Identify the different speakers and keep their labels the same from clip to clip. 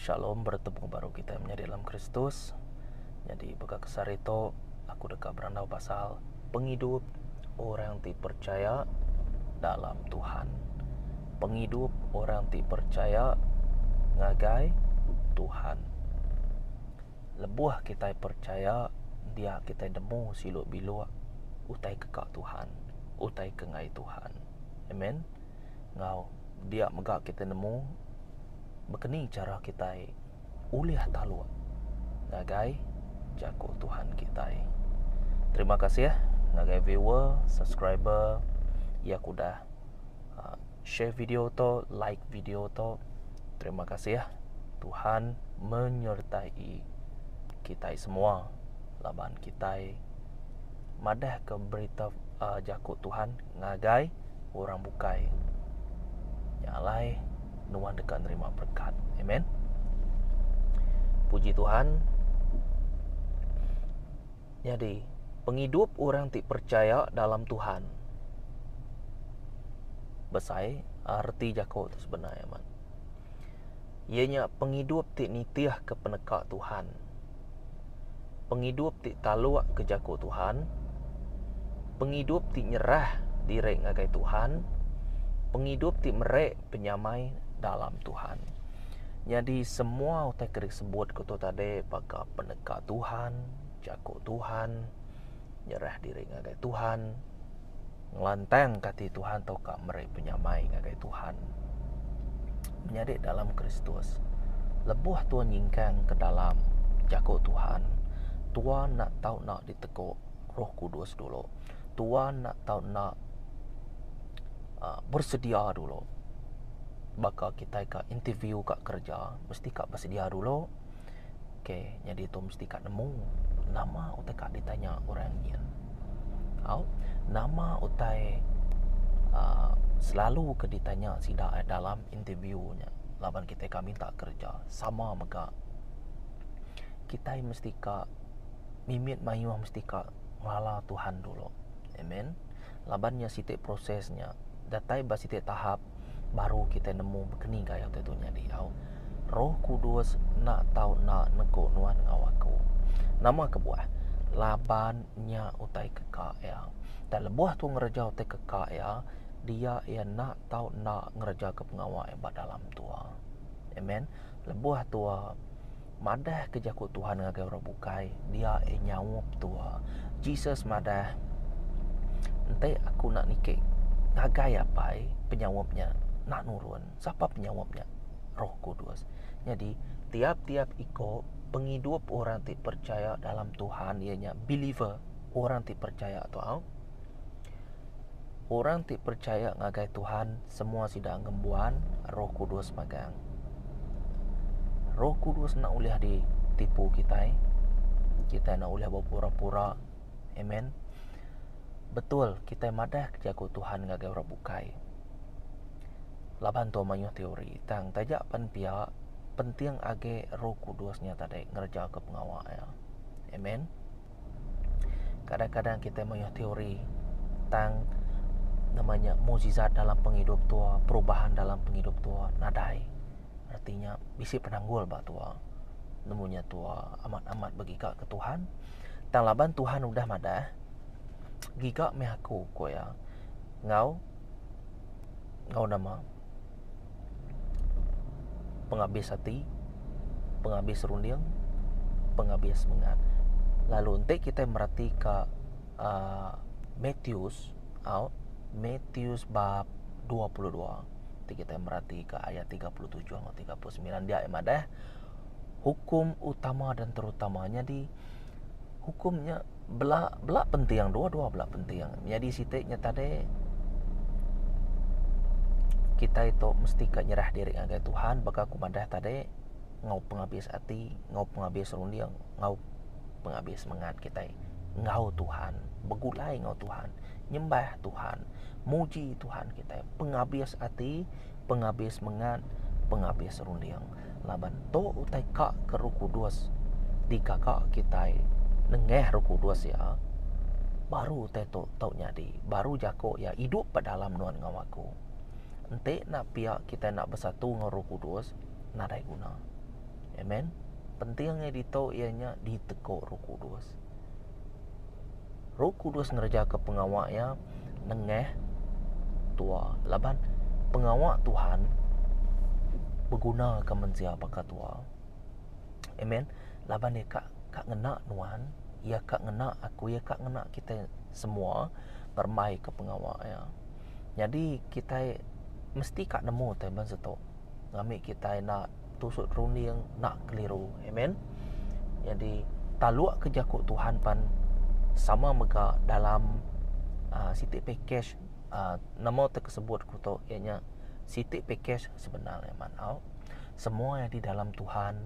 Speaker 1: Shalom beretemu baru kitai menyadi dalam Kristus. Nyadi baka ke sehari tu aku deka berandau pasal pengidup orang ti percaya dalam Tuhan. Pengidup orang ti percaya ngagai Tuhan. Lebuh kitai percaya dia kitai nemu silu biluk utai keka Tuhan, utai kengai Tuhan. Amen. enggau dia mega kita nemu bekeni chara kitai ulih taluk ngagai jaku Tuhan kitai. Terima kasih eh, ngagai viewer, subscriber iya ke udah ah, share video to, like video to. Terima kasih eh. Tuhan menyertai kitai semua laban kitai madah ke berita uh, jaku Tuhan ngagai orang bukai. Nya alai nuan deka nerima berkat. Amen. Puji Tuhan. Jadi, pengidup orang ti percaya dalam Tuhan. Besai arti jaku tu sebenar amat. Ianya pengidup ti nitih ke peneka Tuhan. pengidup ti taluk ke jaku Tuhan, pengidup ti nyerah diri ngagai Tuhan, pengidup ti meri penyamai dalam Tuhan. Nyadi semua utai ke disebut ku tu tadi baka peneka Tuhan, jaku Tuhan, nyerah diri ngagai Tuhan. ngelantangka ati Tuhan tauka meri penyamai ngagai Tuhan. Menyadi dalam Kristus, lebuh tuan nyingkang ke dalam jaku Tuhan, tuan enda tau enda diteguk Roh Kudus dulu. Tuan enda tau enda ah, bersedia dulu. Baka kitai ka interview ka kerja, mesti ka bersedia dulu. Ok nyadi tu mesti ka nemu nama utai ka ditanya orang nyin. Au nama utai aaa selalu ke ditanya sida dalam interview nya laban kitai ka minta kerja sama mega kitai mesti ka mimit mayuh mesti ka ngala Tuhan dulu. Amen. laban nya siti proses nya datai ba siti tahap baru kitai nemu keni gaya kitai tu nyadi au roh kudus enda tau enda neku nuan enggau aku nama kebuah laban nya utai keka iya tang lebuh aku ngereja utai keka iya dia iya enda tau enda ngereja pengawa iya ba dalam tua amen lebuh tua. Madah ke jaku Tuhan ngagai orang bukai, dia eh nyaup tua. Jesus madah, Enti aku enda niki ngagai Apai, penyaup nya enda nurun. Sapa penyaup nya? Roh Kudus. Nyadi, tiap-tiap iko pengidup orang ti percaya dalam Tuhan iya nya believer, orang ti percaya tu au. Orang ti percaya ngagai Tuhan semua sida ngembuan Roh Kudus megang. Roh Kudus enda ulih ditipu kitai. Kitai enda ulih bepura-pura. Amen. Betul kitai madah ke jaku Tuhan ngagai orang bukai. Laban tu mayuh teori tang taja pen pia penting age Roh Kudus nya tadi ngereja ke pengawa iya. Amen. Kadang-kadang kitai mayuh teori tang nama nya mukjizat dalam pengidup tu, perubahan dalam pengidup tu nadai. Reti nya bisi penanggul ba tu. Nemu nya tu amat-amat begiga ke Tuhan. Tang laban Tuhan udah madah, giga meh aku, ku iya. Enggau, enggau nama. pengabis ati, pengabis runding, pengabis semengat. Lalu enti kita mereti ka aaa Matius au Matius bab dua puluh dua ti kita mereti ka ayat tiga puluh tujuh enggau tiga puluh semilan dia nya madah hukum utama dan terutama nyadi hukum nya bela bela penting dua dua bela penting nyadi siti nya tadi kitai tu mesti ka nyerah diri ngagai tuhan baka ku madah tadi enggau pengabis ati enggau pengabis runding enggau pengabis semangat kitai enggau tuhan begulai enggau tuhan nyembah tuhan muji tuhan kitai pengabis ati pengabis semangat pengabis runding. laban tu utai ka ke Roh Kudus digaga kitai nengah Roh Kudus iya baru utai tu tau nyadi baru jaku iya idup ba dalam nuan enggau aku. Enti enda pia kitai enda besatu enggau Roh Kudus nadai guna. Amen. Penting angai ditu iya nya diteguk Roh Kudus. Roh Kudus ngerejaka pengawa iya nengah tua laban pengawa Tuhan begunaka mensia baka tua. Amen. Laban iya ka ngena nuan, iya ka ngena aku, iya ka ngena kitai semua ngeremaika pengawa iya. Nyadi kitai mesti ka nemu taban satu ngambika kitai enda. tusuk runding nak keliru amen jadi taluk ke jaku Tuhan pan sama mega dalam uh, siti package uh, nama tu kesebut ku tu iya nya siti package sebenar amat au semua yang di dalam Tuhan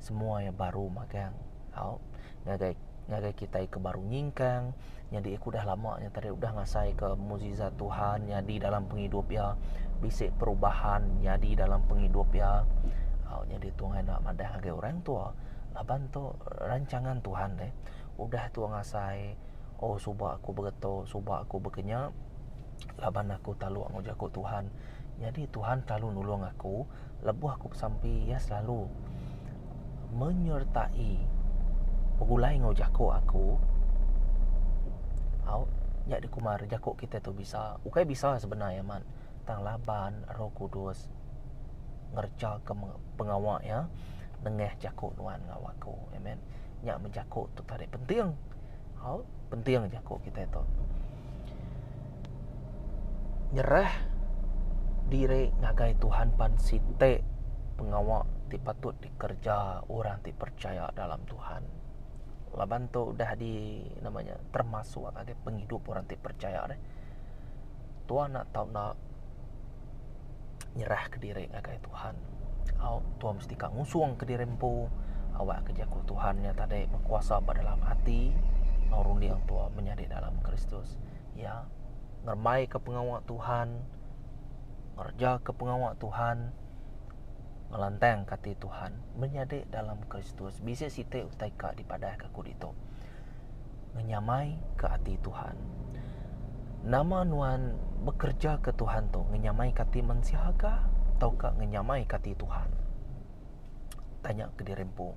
Speaker 1: semua yang baru magang Au. Ngagai ngagai kitai ke baru nyingkang nyadi aku dah lama nya tadi udah ngasaika mukjizat Tuhan nyadi dalam pengidup iya, bisi perubahan nyadi dalam pengidup iya. Au nyadi tu ngagai enda madah ngagai orang tua laban tu rancangan Tuhan deh. Udah tua ngasai oh suba aku begetu suba aku bekenya laban aku taluk enggau jaku Tuhan. Nyadi Tuhan selalu nulung aku. lebuh aku besampi iya selalu menyertai begulai enggau jaku aku au nya dikumar jaku kita tu bisa ukai bisa sebenar iya man tang laban roh kudus ngereja ke pengawa iya nengah jaku nuan enggau aku amen nya meh jaku tu tadi penting au penting jaku kita tu. Nyerah diri ngagai Tuhan pan siti pengawa ti patut dikereja orang ti percaya dalam Tuhan. Laban tu udah di nama nya termasuk ngagai pengidup orang ti percaya deh. Tua enda tau enda nyerah ke diri ngagai Tuhan. Au tuan mesti ka ngusung ke diri empu awak ke jaku Tuhan nya tadi berkuasa ba dalam ati enggau runding tuan menyadi dalam Kristus. Ya ngerembai ke pengawa Tuhan, ngereja ke pengawa Tuhan, ngelantang ke ati Tuhan menyadi dalam Kristus. Bisi siti utai ka dipadah ka ku ditu. ngenyamaika ati Tuhan. Nama nuan bekerejaka Tuhan tu? Ngenyamaika ati mensia ka tauka ngenyamaika ati Tuhan? Tanya kediri empu.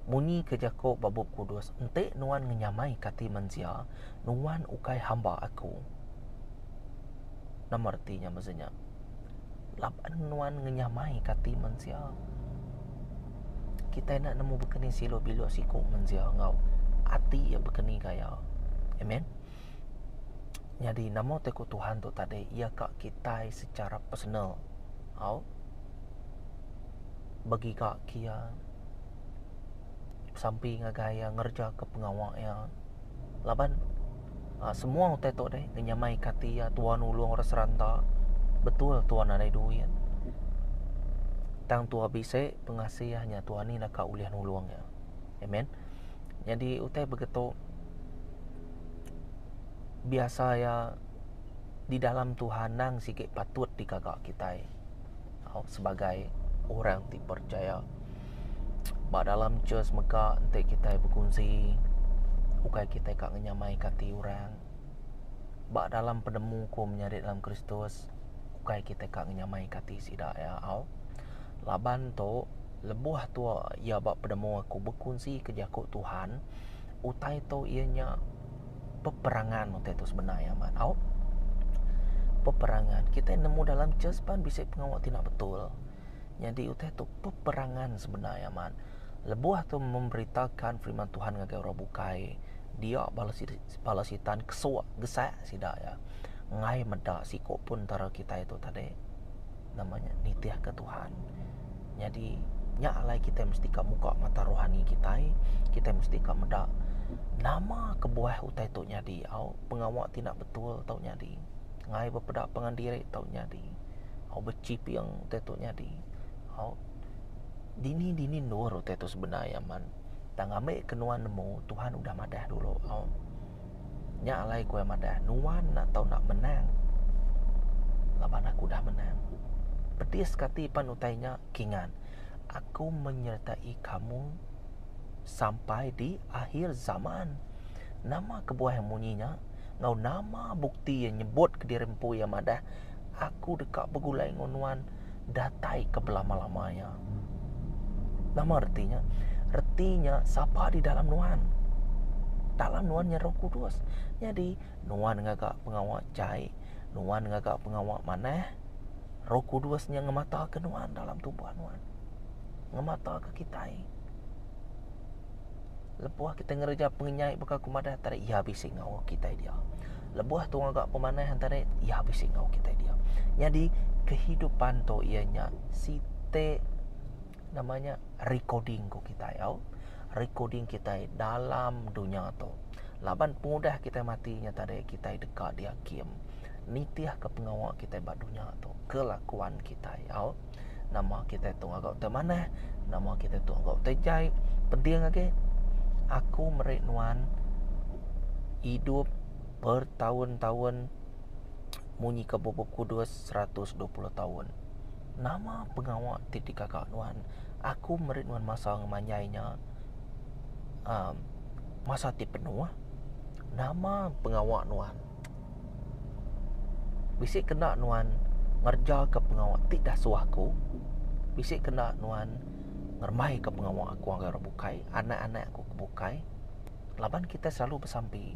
Speaker 1: Munyi ke jaku ba Bup Kudus, enti nuan ngenyamaika ati mensia, nuan ukai hamba aku. Nama reti nya meza nya? Laban nuan ngenyamaika ati mensia. kitai enda nemu bekeni silu bilu siku mensia enggau ati iya bekeni gaya. Amen. Nyadi nama ti ku Tuhan tu tadi iya ka kitai secara personal tau begiga ke iya sampi ngagai iya ngereja ke pengawa iya laban. Ah semua utai tu deh ngenyamai ke ati iya tuan nulung orang seranta betul tuan nadai duit tang tuan bisi pengasih iya nya tuan nih naka ulih nulung iya amen nyadi utai begitu biasa iya di dalam tuhan nang sigi patut digaga kitai. Tau sebagai orang ti percaya ba dalam church mega enti kitai bekunsi ukai kitai ka ngenyamaika ati orang. Ba dalam penemu ku menyadi dalam Kristus ukai kitai ka ngenyamaika ati sida iya au. Laban tu lebuh tua iya ba penemu aku bekunsi ke jaku Tuhan utai tu iya nya peperangan utai tu semina iya amat au peperangan kitai nemu dalam church pan bisi pengawa ti enda betul nyadi utai tu peperangan semina iya amat lebuh tu memberitakan firman Tuhan ngagai orang bukai dia bala sida bala sitan kesuak gesak sida iya ngai meda siku pun entara kitai tu tadi nama nya nitihka Tuhan. Nyadi nya alai kitai mesti ka muka mata rohani kitai, kitai mesti ka meda nama kebuah utai tu nyadi au pengawa ti enda betul tau nyadi, ngai bepeda pengen diri tau nyadi, au bechiping utai tu nyadi, au dini-dini endur utai tu sebenar aman. Tang ambika nuan nemu Tuhan udah madah dulu au. Nya alai ku iya madah, nuan enda tau enda menang. Laban aku udah menang. Pedis ke ati pan utai nya, Kingan. Aku menyertai kamu sampai di akhir zaman. Nama kebuah iya munyi nya enggau nama bukti iya nyebut kediri empu iya madah aku deka begulai enggau nuan datai ke belama-lama iya. Nama reti nya? Reti nya sapa di dalam nuan? Dalam nuan nya Roh Kudus. Jadi, nuan ngaga pengawa jai, nuan ngaga pengawa manah, Roh Kudus nya ngemataka nuan dalam tubuh nuan. Ngemataka kitai. Lebuh kitai ngereja pengenyai baka aku madah tadi iya bisi ngaul kitai dia. Lebuh tu ngaga pemanah tadi iya bisi ngaul kitai dia. Nyadi kehidupan tu iya nya siti nama nya recording ngaul kitai tau. Recording kitai dalam dunya tu. Laban pengudah kitai mati nya tadi kitai deka diakim nitihka pengawa kitai ba dunya tu, kelakuan kitai au. Nama kitai tu ngaga utai manah, nama kitai tu ngaga utai jai. Penting agi aku meri nuan idup bertaun-taun munyi ka bup-bup kudus seratus dua puluh taun. Nama pengawa ti digaga nuan? Aku meri nuan masa ngemanjai nya aaa masa ti penuh. Nama pengawa nuan? Bisi kena nuan ngerejaka pengawa ti dah suah aku. Bisi kena nuan ngeremaika pengawa aku ngagai orang bukai, anak-anak aku ke bukai. Laban kitai selalu besampi.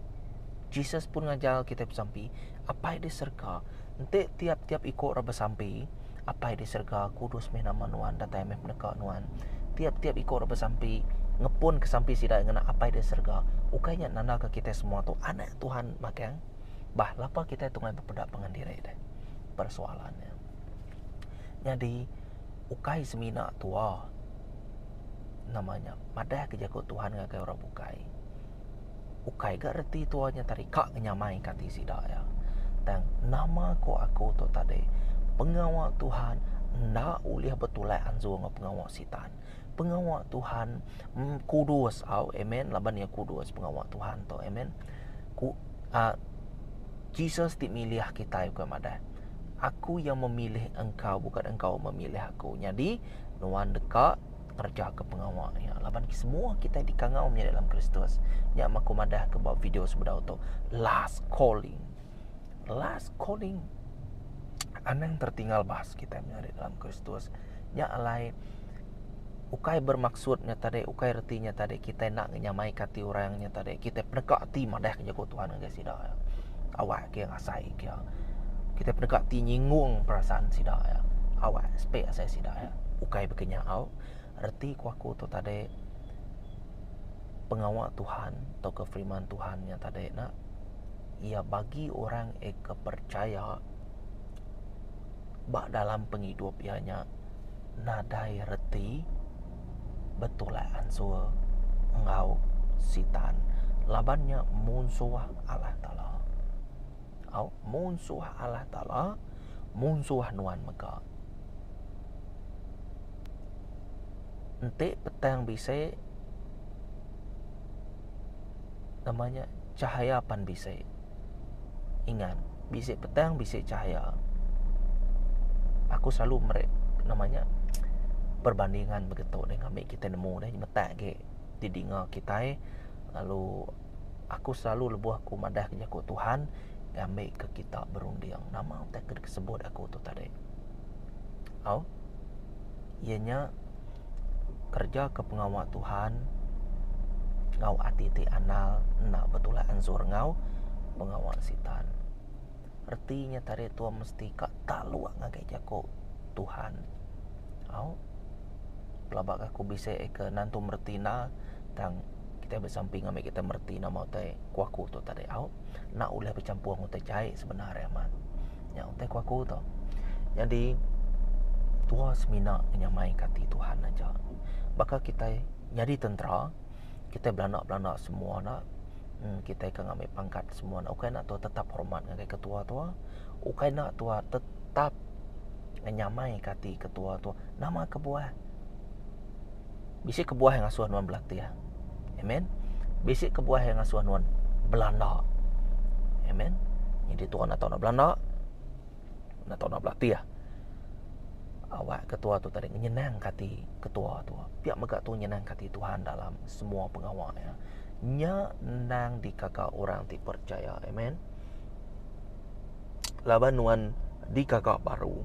Speaker 1: Jesus pun ngajar kitai besampi. Apai di serega enti tiap-tiap iku ira besampi. Apai di serega, kudus meh nama Nuan, datai meh peneka Nuan. Tiap-tiap iku orang besampi ngepunka sampi sida ngena Apai di serega, ukai nya nandaka kitai semua tu anak Tuhan magang? Bah, lapa kitai tunggai bepeda pengan diri deh? Persoalan nya. Nyadi, ukai semina tua nama nya madahka jaku Tuhan ngagai orang bukai. Ukai ga reti tua nya tadi ka ngenyamaika ati sida iya. Tang nama ko aku tu tadi pengawa Tuhan enda ulih betulak anzur enggau pengawa sitan. Pengawa Tuhan kudus au amen laban iya kudus pengawa Tuhan tu amen. Ku a Jesus ti milih kitai ukai madah. Aku yang memilih engkau bukan engkau memilih aku. Nyadi nuan deka Ngereja ke pengawa nya laban semua kita dikangau menyadi dalam Kristus. Nya maku madah ke ba video sebedau tu. Last calling. Last calling. Anang tertinggal bahas kita menyadi dalam Kristus. Nya alai ukai bermaksud nya tadi ukai reti nya tadi kita nak nyamai kati orang nya tadi kita peneka ati madah ke jaku Tuhan ngagai sida awak ke asai ke iya. Kitai penegak ti nyinggung perasaan sida iya. Awas pe asai sida iya. Ukai baka nya au, reti ku aku tu tadi pengawa Tuhan tauka firman Tuhan nya tadi ne iya bagi orang ke percaya ba dalam pengidup iya nya nadai reti. betulak ansur enggau sitan laban nya munsuh Allah taala. Au munsuh Allah taala munsuh nuan mega. Enti petang bisi nama nya chahaya pan bisi. Ingat, bisi petang bisi cahaya. Aku selalu meri nama nya perbandingan begitu dengan ami kita nemu nih metak agi di dinga kitai lalu aku selalu lebuh aku madah jaku Tuhan ngambi ke kita berunding nama utai ke sebut aku tu tadi. Au. Iya nya. kereja ke pengawa Tuhan enggau ati ti anal enda betulak anzur enggau pengawa sitan. Reti nya tadi tuan mesti ka taluk ngagai jaku Tuhan. Au. Pelaba ke aku bisi ke nan tu mereti enda tang kitai besampi ngagai kita mereti nama utai ku aku tu tadi au. Enda ulih becampur enggau utai jai sebenar e amat. nya utai ku aku tu. Nyadi tua semina ngenyamai ka ati Tuhan aja. Baka kitai nyadi tentera, kitai belanda-belanda semua ne kitai ke ngambi pangkat semua ne ukai enda tua tetap hormat ngagai ketua tua, ukai enda tua tetap ngenyamai ka ati ketua tua nama kebuah. Bisi kebuah yang ngasuh nuan belatih. Amen. Bisi kebuah yang ngasuh nuan belanda. Amen. Jadi tuan nak tahu nak belanda, nak tahu nak belatih. Awak ketua tu tadi nyenang kati ketua tu. Pihak mega tu nyenang kati Tuhan dalam semua pengawa ya. Nya nang dikaka orang ti percaya. Amen. Laban nuan digaga baru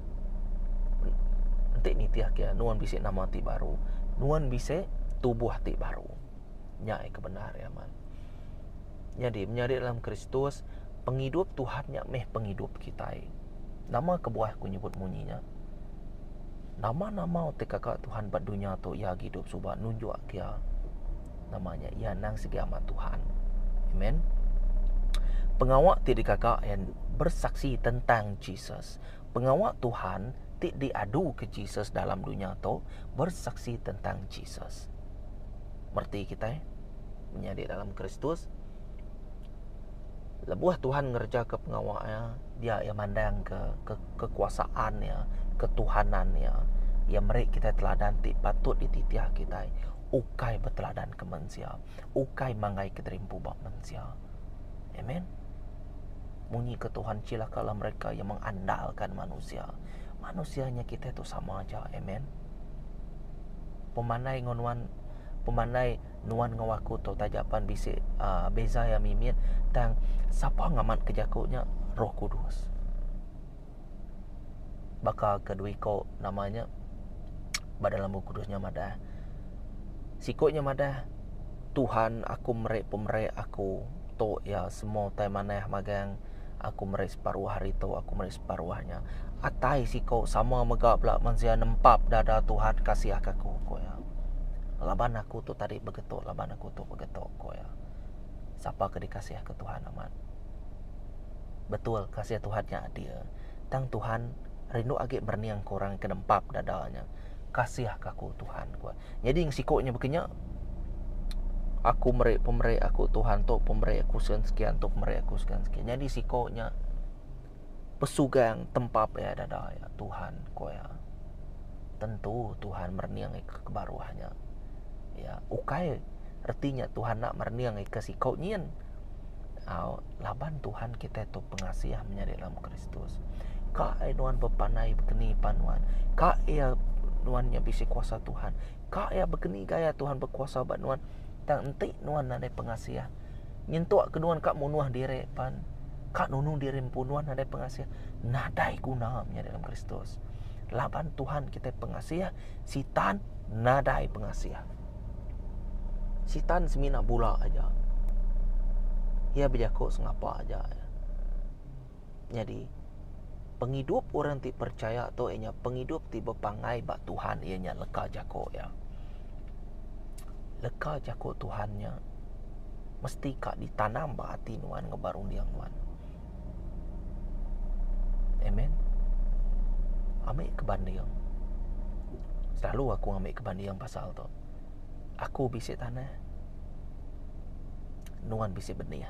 Speaker 1: enti nitihka iya nuan bisi nama ti baru nuan bisi tubuh ti baru nya ke bendar iya amat nyadi menyadi dalam kristus pengidup tuhan nya meh pengidup kitai nama kebuah aku nyebut munyi nya nama-nama ti gaga tuhan ba dunya tu iya agi idup suba nunjukka iya. Nama nya? Iya endang sigi amat Tuhan. Amen. Pengawa ti dikaga yang bersaksi tentang Jesus. Pengawa Tuhan ti diadu ke Jesus dalam dunia tu bersaksi tentang Jesus. Merti kita eh? menyadi dalam Kristus. Lebuh Tuhan ngereja ke pengawa ya, dia ia mandang ke, ke kekuasaan ya, ketuhanan ya. Ia meri kita teladan ti patut dititih kita. ukai beteladan ke mensia, ukai manggai kederimpu ba mensia. Amen. Munyi ke Tuhan cilakalah mereka yang mengandalkan manusia. Manusia nya kitai tu sama aja. Amen. Pemandai enggau nuan pemandai nuan enggau aku tu taja pan bisi uh, beza yang mimit tang sapa ngamatke jaku nya Roh Kudus. baka ke dua iko nama nya ba dalam bup kudus nya madah siko nya madah Tuhan aku meri pemeri aku tu iya semua utai manah magang aku meri separuh hari tu aku meri separuh hari nya atai siko sama mega bala mensia nempap dada Tuhan kasih aka aku ko iya laban aku tu tadi begetu laban aku tu begetu ko iya sapa ke dikasih ka Tuhan amat. Betul kasih Tuhan nya adil, tang Tuhan rindu agi berening ke orang ke nempap dada nya. Kasihka aku Tuhan, ku iya. Nyadi siku nya baka nya, Aku meri pemeri aku Tuhan tu pemeri aku sekian-sekian tu pemeri aku sekian-sekian. Nyadi siku nya. pesugang tempap iya dada iya Tuhan ku iya. Tentu Tuhan merening ika ke baruh nya. Iya ukai reti nya Tuhan enda merening ika siko nyin au laban Tuhan kitai tu pengasih menyadi dalam Kristus. Ka ai nuan bepandai keni pan nuan. Ka iya nuan nya bisi kuasa Tuhan. Ka iya keni gaya Tuhan bekuasa ba nuan tang enti nuan nadai pengasih. nyentuk ke nuan ka munuh diri pan ka nunung diri empu nuan nadai pengasih nadai guna menyadi dalam Kristus laban Tuhan kita pengasih sitan nadai pengasih sitan semina bula aja ia bejaku sengapa aja Nyadi, pengidup orang ti percaya tu iya nya pengidup ti bepangai ba Tuhan iya nya leka jaku iya. Leka jaku Tuhan nya mesti ka ditanam ba ati nuan enggau ba runding nuan. Amen. Ami ke banding, selalu aku ngambi ke banding pasal tu. Aku bisi tanah, nuan bisi benih.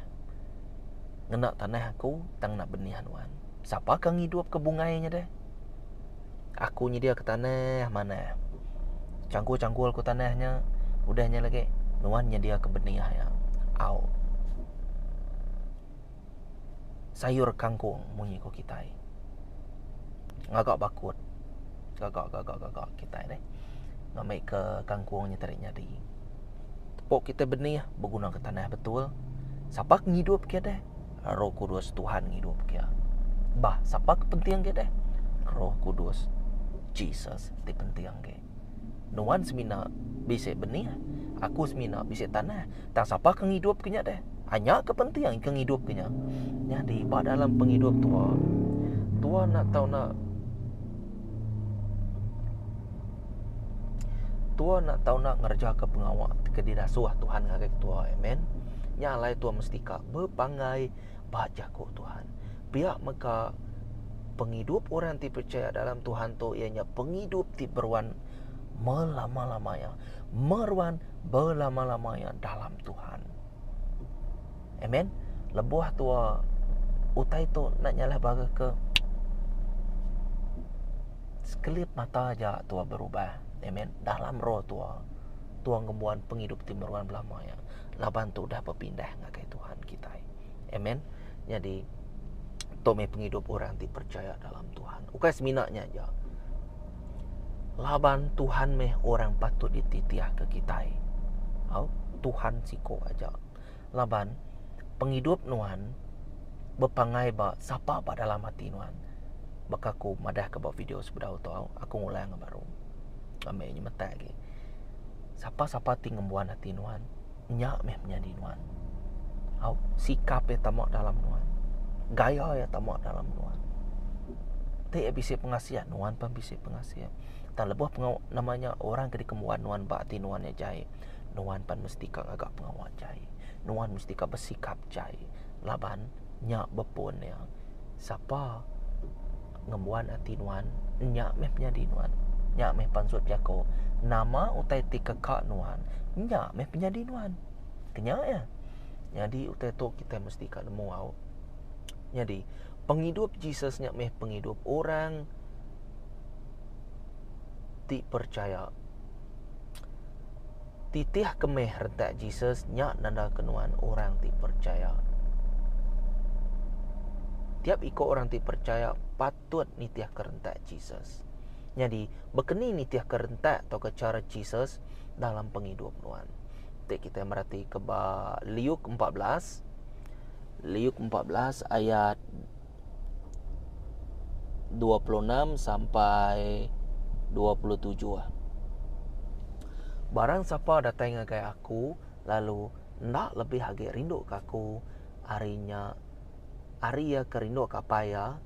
Speaker 1: ngena tanah aku tang ngena benih nuan. Sapa ke ngidup ke bungai nya deh? Aku nyedia ke tanah manah. Cangkul-cangkul ku tanah nya udah nya lagi nuan nyedia ke benih nya. Au. Sayur kangkung munyi ku kitai. Ngaga bakut. Gaga gaga gaga kitai deh. Ngambi ke kangkung nya tadi nyadi. Tepu kita benih begunaka tanah betul. Sapa ke ngidup ke deh? Roh Kudus Tuhan ngidup ke. Bah, sapa ke penting ke deh? Roh Kudus Jesus ti penting ke. Nuan semina bisi benih, aku semina bisi tanah. Tang sapa ke ngidup ke nya deh? Anya ke penting ke ngidup ke nya. Nyadi ba dalam pengidup tua, tua nak tau nak Tua enda tau enda ngerejaka pengawa ke didasuh Tuhan ngagai tua. Amen. Nya alai tua mesti ka bepanggai ba jaku Tuhan. Pia mega pengidup orang ti percaya dalam Tuhan tu iya nya pengidup ti beruan melama-lama iya. Meruan belama-lama iya dalam Tuhan. Amen. Lebuh tua utai tu enda nyalah bala ke sekelip mata aja tua berubah. Amen. Dalam roh tua. Tua ngembuan pengidup ti meruan belama ya. Laban tu udah bepindah ngagai Tuhan kitai. Amen. Nyadi tu meh pengidup orang ti percaya dalam Tuhan. Ukai semina nya aja. Laban Tuhan meh orang patut dititih ke kitai. Au, Tuhan siko aja. Laban pengidup nuan bepangai ba sapa ba dalam ati nuan. Baka aku madahka ba video sebedau tu, aku ngulang iya baru. Ami nyemetak agi. Sapa-sapa ti ngembuan ati nuan, nya meh menyadi nuan. Au, sikap iya tama dalam nuan. Gaya iya tama dalam nuan. Ti iya bisi pengasih, nuan pun bisi pengasih. Tang lebuh pengawa, nama nya, orang ke dikembuan nuan ba ati nuan iya jai. nuan pan mesti ka ngaga pengawa jai, nuan mesti ka besikap jai laban nya bepun iya sapa ngembuan ati nuan nya meh penyadi nuan nya meh pansut jaku nama utai ti keka nuan nya meh penyadi nuan kenya iya nyadi utai tu kitai mesti ka nemu au nyadi pengidup Jesus nya meh pengidup orang ti percaya Titih kemih retak Jesus nya nandaka nuan orang ti percaya. Tiap iko orang ti percaya patut nitihka rentak Jesus. Nyadi, bekeni nitihka rentak tauka chara Jesus dalam pengidup nuan. Ti kitai meratika ba Liuk empat belas, Liuk empat belas ayat 26 sampai 27 ah. Barang sapa datai ngagai aku lalu enda lebih agi rinduka aku ari nya ari iya ke rinduka apai iya,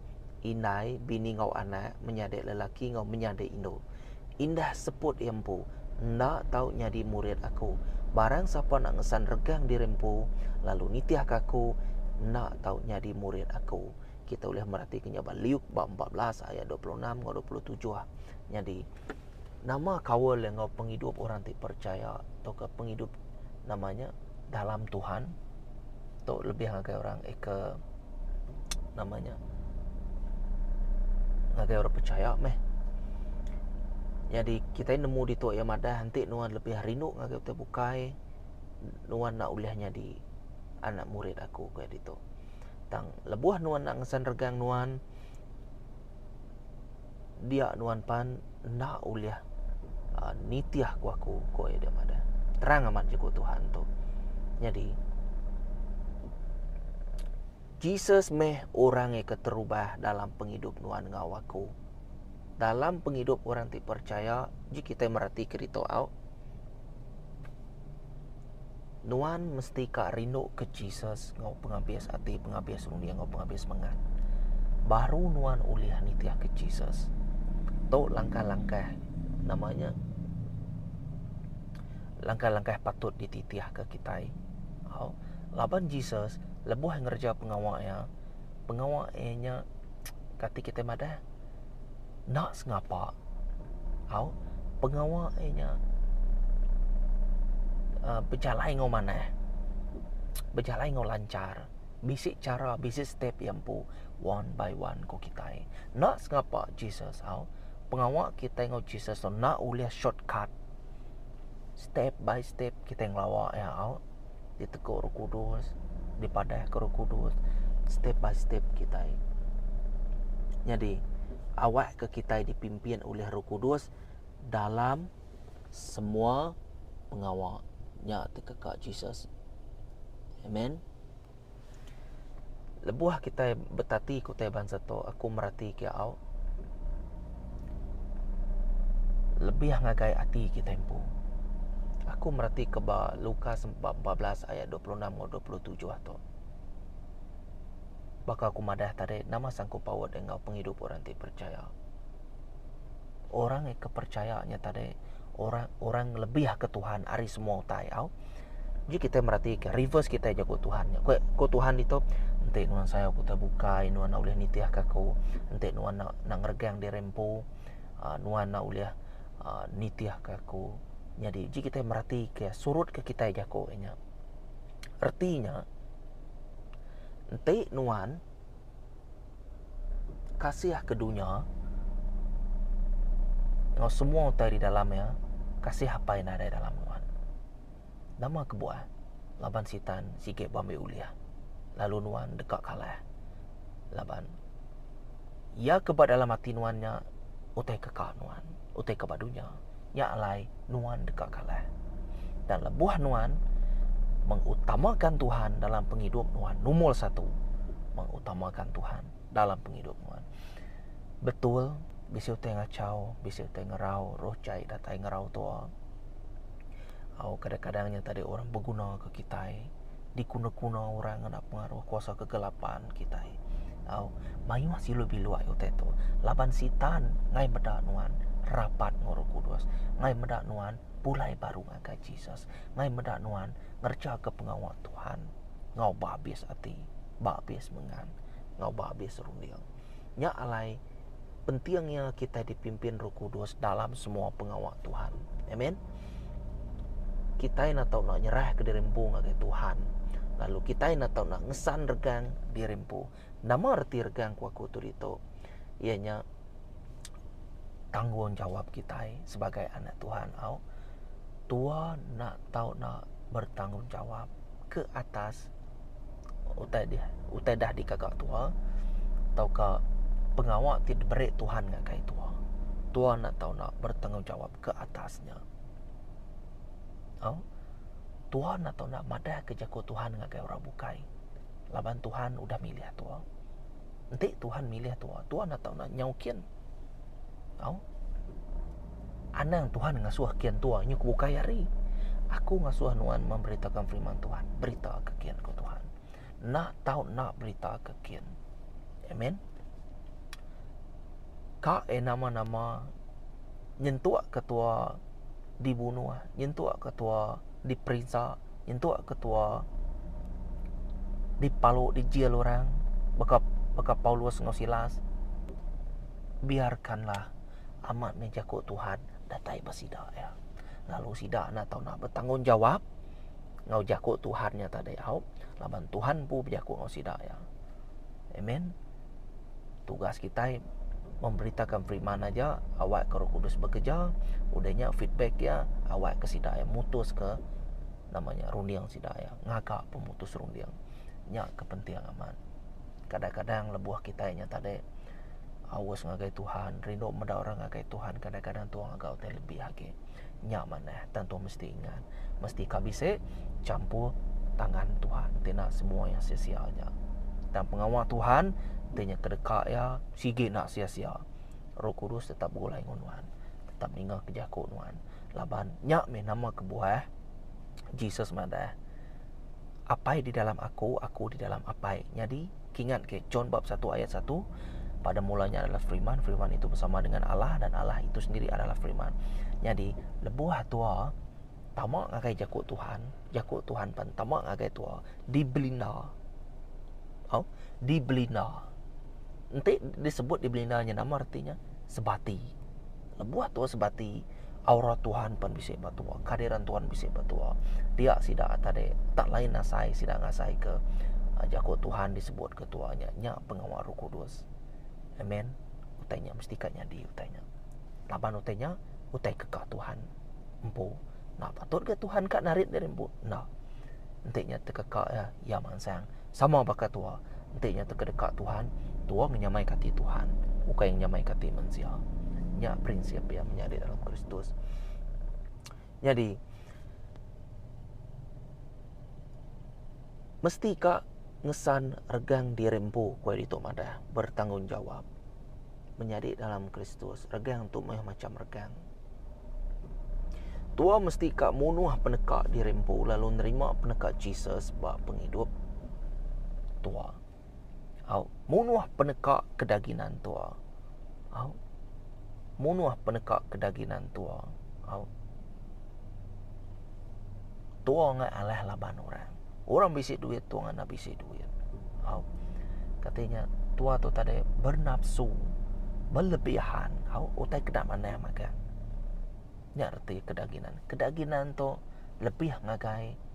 Speaker 1: indai, bini enggau anak, menyadi lelaki enggau menyadi indu. Indah seput iya empu, enda tau nyadi murid aku. Barang sapa enda ngesan regang diri empu, lalu nitihka aku, enda tau nyadi murid aku. Kita ulih meratika nya ba Luke bab empat belas ayat dua puluh enam enggau dua puluh tujuh. Nyadi, nama kaul enggau pengidup orang ti percaya tauka pengidup nama nya? dalam Tuhan tu lebih ngagai orang aka nama nya ngagai orang pechaya meh. Jadi kitai nemu ditu iya madah enti nuan lebih rindu ngagai utai bukai nuan enda ulih nyadi anak murid aku ku iya ditu. Tang lebuh nuan enda ngesan regang nuan dia nuan pan enda ulih uh, nitih ku aku, ku iya dia madah. Terang amat juga Tuhan tu. Jadi, Jesus meh orang yang keterubah dalam penghidup nuan ngau aku. Dalam penghidup orang ti percaya, ji kita merati kerita au, Nuan mesti ka rinduka Jesus enggau pengabis ati, pengabis runding enggau pengabis semangat. Baru nuan ulih nitihka Jesus. Tu langkah-langkah nama nya langkah-langkah patut dititihka kitai. Au laban Jesus lebuh ngereja pengawa iya, pengawa iya nya kati kitai madah? enda sengapa au pengawa e nya a bejalai enggau manah bejalai enggau lanchar bisi chara bisi step iya empu one by one ku kitai enda sengapa Jesus au pengawa kitai enggau Jesus enda ulih shortcut step by step kitai ngelawa iya au. diteguk Roh Kudus, dipadahka Roh Kudus step by step kitai. Nyadi awakka kitai dipimpin oleh Roh Kudus dalam semua pengawa nya ti keka Jesus. Amen. Lebuh kitai betati ku tai bansa tu, aku mereti ke au lebih ngagai ati kitai empu. Aku mereti ke ba Lukas bab empat belas ayat dua puluh enam enggau dua puluh tujuh tu. Baka ku madah tadi, nama sanggup paut enggau pengidup orang ti percaya. orang ngai ke percaya nya tadi orang orang ngelebihka Tuhan ari semua utai au. Ji kita meratika reverse kita jago Tuhan. Ko ko Tuhan ditu enti nuan sayau ku tebukai nuan ulih nitihka aku. Enti nuan nak nak ngeregang diri empu ah, nuan nak ulih ah, nitihka aku. Jadi ji kita meratika surut ke kita jago nya. Reti nya enti nuan Kasih ke dunya enggau semua utai di dalam iya, kasih Apai nadai dalam nuan. Nama kebuah laban Sitan sigi beambi ulih lalu nuan deka kalah. Laban iya ke ba dalam ati nuan nya utai ke ka nuan, utai ke ba dunya. Nya alai nuan deka kalah. Dan lebuh nuan mengutamakan Tuhan dalam pengidup nuan nomor satu mengutamakan Tuhan dalam pengidup nuan betul bisi utai ngacau bisi utai ngerau roh jai datai ngerau tua au kadang-kadang nya tadi orang beguna ke kitai. dikuna-kuna orang ngena pengaruh kuasa kegelapan kitai. Au, mayuh silu bilu ai utai tu. Laban Sitan ngai meda nuan rapat enggau Roh Kudus, ngai meda nuan pulai baru ngagai Jesus, ngai meda nuan ngerejaka pengawa Tuhan enggau ba abis ati, ba abis mengan, enggau ba abis runding. Nya alai, penting iya kitai dipimpin Roh Kudus dalam semua pengawa Tuhan. Amen. Kitai enda tau nak nyerahka diri empu ngagai Tuhan. Lalu kitai enda tau nak ngesan regang diri empu. Nama reti regang ku aku tu ditu? Iya nya tanggungjawab kitai sebagai anak Tuhan au. Tuhan enda tau nak bertanggungjawab ke atas utai di utai dah dikaga tua tauka pengawa ti diberi Tuhan ngagai ai tua. Tua enda tau enda bertanggungjawab ke atas nya. Au tua enda tau enda madah ke jaku Tuhan ngagai orang bukai laban Tuhan udah milih tua. Enti Tuhan milih tua, tua enda tau enda nyau kin. Au. Anang Tuhan ngasuh kian tua nyu ke ukai hari. Aku ngasuh nuan memberitakan firman Tuhan, berita ke kian ke Tuhan. Nak tau nak berita ke kian. Amen. Ka e nama-nama nyentuk ketua dibunuh, nyentuk ketua diperinsa, nyentuk ketua dipalu di jail orang baka baka Paulus enggau Silas. Biarkanlah amat meh jaku Tuhan datai ba sida iya. Lalu sida enda tau nak betanggungjawab enggau jaku Tuhan nya tadi au laban Tuhan empu bejaku enggau sida iya. Amen. Tugas kitai memberitakan firman aja awak ke Roh Kudus bekerja udah nya feedback iya awak ke sida iya mutus ke nama nya runding sida iya ngaga pemutus runding. Nya ke penting amat. kadang-kadang lebuh kitai nya tadi aus ngagai Tuhan rindu meda orang ngagai Tuhan kadang-kadang Tuhan agau tai lebih agi nya manah tentu mesti ingat mesti ka bisi champur tangan Tuhan ti nak semua yang sia-sia nya tang pengawa Tuhan ti nya kedeka iya sigi nak sia-sia roh kudus tetap begulai ngan nuan tetap ninga ke jaku nuan laban nya mih nama kebuah Jesus madah Apai di dalam Aku, Aku di dalam Apai. Nyadi, kingat ke John bab 1 ayat 1, Pada mulanya adalah Firman, Firman itu bersama dengan Allah dan Allah itu sendiri adalah Firman. Nyadi, lebuh tua tama ngagai jaku Tuhan, jaku Tuhan pan tama ngagai tua, dibelinda. Oh, dibelinda. Enti disebut dibelinda nya nama artinya? Sebati. Lebuh tua sebati, Aura Tuhan pen bisi ba tua, kehadiran Tuhan bisi ba tua. Dia sida tadi tak lain asai sida ngasai ke jaku Tuhan disebut ke tua nya, nya pengawa Roh Kudus. Amen. Utai nya mesti ka nyadi utai nya. Laban utai nya utai ke ka Tuhan empu. Enda patut ga Tuhan ka narit diri empu. Enda. Enti nya te ke ka iya. iya mansang. Sama baka tua, enti nya teka deka Tuhan, tua ngenyamaika ati Tuhan, ukai ngenyamaika ati mensia. Nya prinsip iya menyadi dalam Kristus. Nyadi mesti ka ngesan regang diri empu, ku iya ditu madah, bertanggungjawab. menyadi dalam Kristus. Regang tu meh macam regang. Tua mesti ka munuh peneka diri empu lalu nerima peneka Jesus ba pengidup tua. Au, munuh peneka kedaginan tua. Au, munuh peneka kedaginan tua. Au. Tua ngai alah laban orang. Orang bisi duit tu ngena bisi duit. Au. Kati nya tua tu tadi bernapsu belebihan. Au utai keda manah magang. Nya reti kedaginan. Kedaginan tu lebih ngagai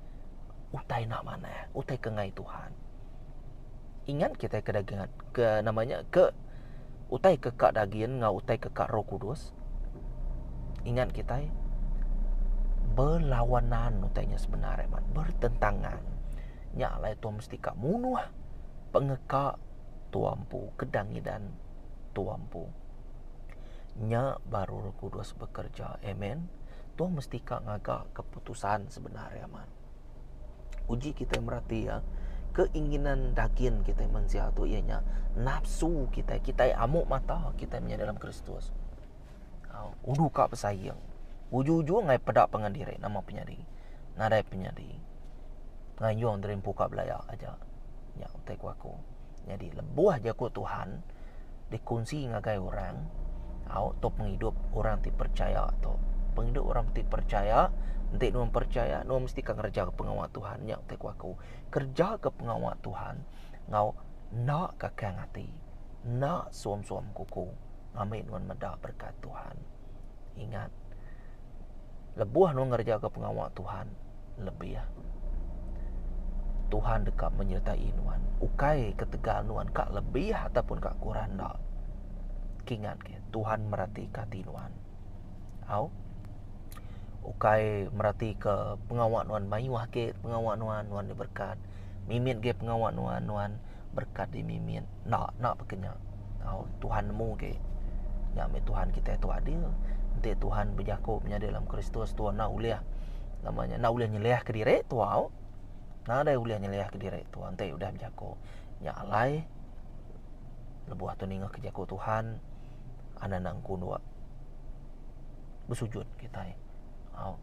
Speaker 1: utai enda manah, utai ke ngai Tuhan. Ingat kitai ke dagin ke nama nya ke utai ke ka dagin enggau utai ke ka roh kudus. Ingat kitai belawanan utai nya sebenar ai mat, bertentangan. Nya alai tua mesti ka munuh pengeka tua empu ke dangidan tua empu. Nya baru roh kudus bekerja. Amen. Tua mesti ka ngaga keputusan sebenar ai mat. Uji kitai merati iya, keinginan dagin kitai mensia tu iya nya nafsu kitai, kitai amu mata kitai menyadi dalam Kristus. Au, udu ka besaing. Uju-uju ngai peda pangan diri nama penyadi. Nadai penyadi. Ngayung diri empu ka belaya aja. Nya utai ku aku. Nyadi lebuh jaku Tuhan dikunsi ngagai orang, au tu pengidup orang ti percaya tu. Pengidup orang ti percaya, enti nuan percaya, nuan mesti akan ngereja pengawa Tuhan. Nya utai ku aku. Kereja ke pengawa Tuhan enggau enda kakang ati, enda suam-suam kuku ngambi nuan meda berkat Tuhan. Ingat. Lebuh nuan ngerejaka pengawa Tuhan lebih, Tuhan deka menyertai nuan. Ukai ketegal nuan ka lebih ataupun ka kurang enda. Kingat ke, Tuhan meratika ati nuan. Au. Ukai meratika pengawa nuan mayuh agi pengawa nuan, nuan diberkat. Mimit agi pengawa nuan, nuan berkat dimimin. Enda enda baka nya. Tau Tuhan nemu ge nya meh Tuhan kitai tu adil. Enti Tuhan bejaku menyadi dalam Kristus tu enda ulih nama nya enda ulih nyeliah ke diri tau. Nadai ulih nyeliah ke diri tau enti udah bejaku. Nya alai lebuh tu ninga ke jaku Tuhan anang-anang ku dua. besujud kitai au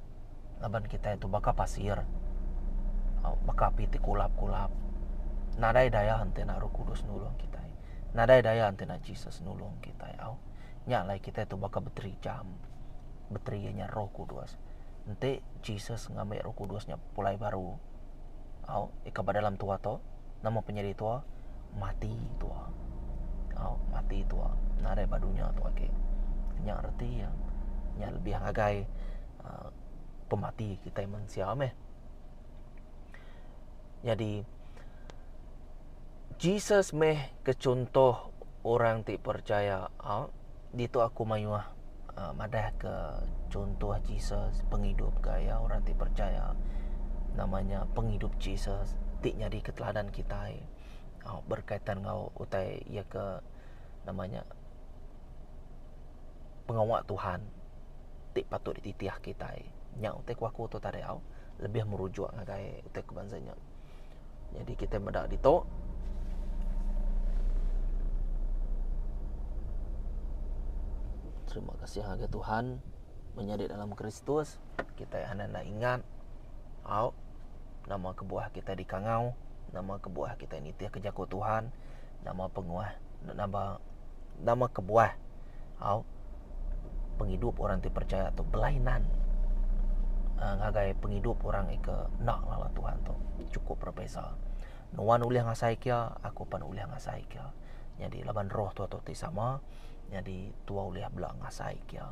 Speaker 1: laban kitai tu baka pasir au baka api ti kulap-kulap nadai daya enti ena roh kudus nulung kitai nadai daya enti ena Jesus nulung kitai au nya alai kitai tu baka bateri jam bateri iya nya roh kudus enti Jesus ngambi roh kudus nya pulai baru. Au iko ba dalam tua to nama pa nyadi tua mati tua au mati tua nadai ba dunya to agi nya reti iya nya lebih ngagai pemati kitai mensia meh nyadi Jesus meh ke chuntoh orang ti percaya au. Ditu aku mayuh madahka chunto Jesus pengidup ke iya orang ti percaya nama nya pengidup Jesus ti nyadika teladan kitai berkaitan enggau utai iya ke nama nya pengawa Tuhan ti patut dititih kitai. Nya utai ku aku tu tadi au lebih merujuk ngagai utai ku bansa nya. Jadi kita meda ditu. Terima kasih harga Tuhan menyadi dalam Kristus. Kita yang hendak ingat. Au. Nama kebuah kita di kangau. Nama kebuah kita nitih ke jaku Tuhan. nama penguah nama nama kebuah au pengidup orang ti percaya tu belainan aaa ngagai pengidup orang iko enda lalu Tuhan tu cukup berbeza nuan ulih ngasai kia aku pan ulih ngasai kia nyadi laban roh Tuhan tu ti sama nyadi tua ulih bela ngasai kia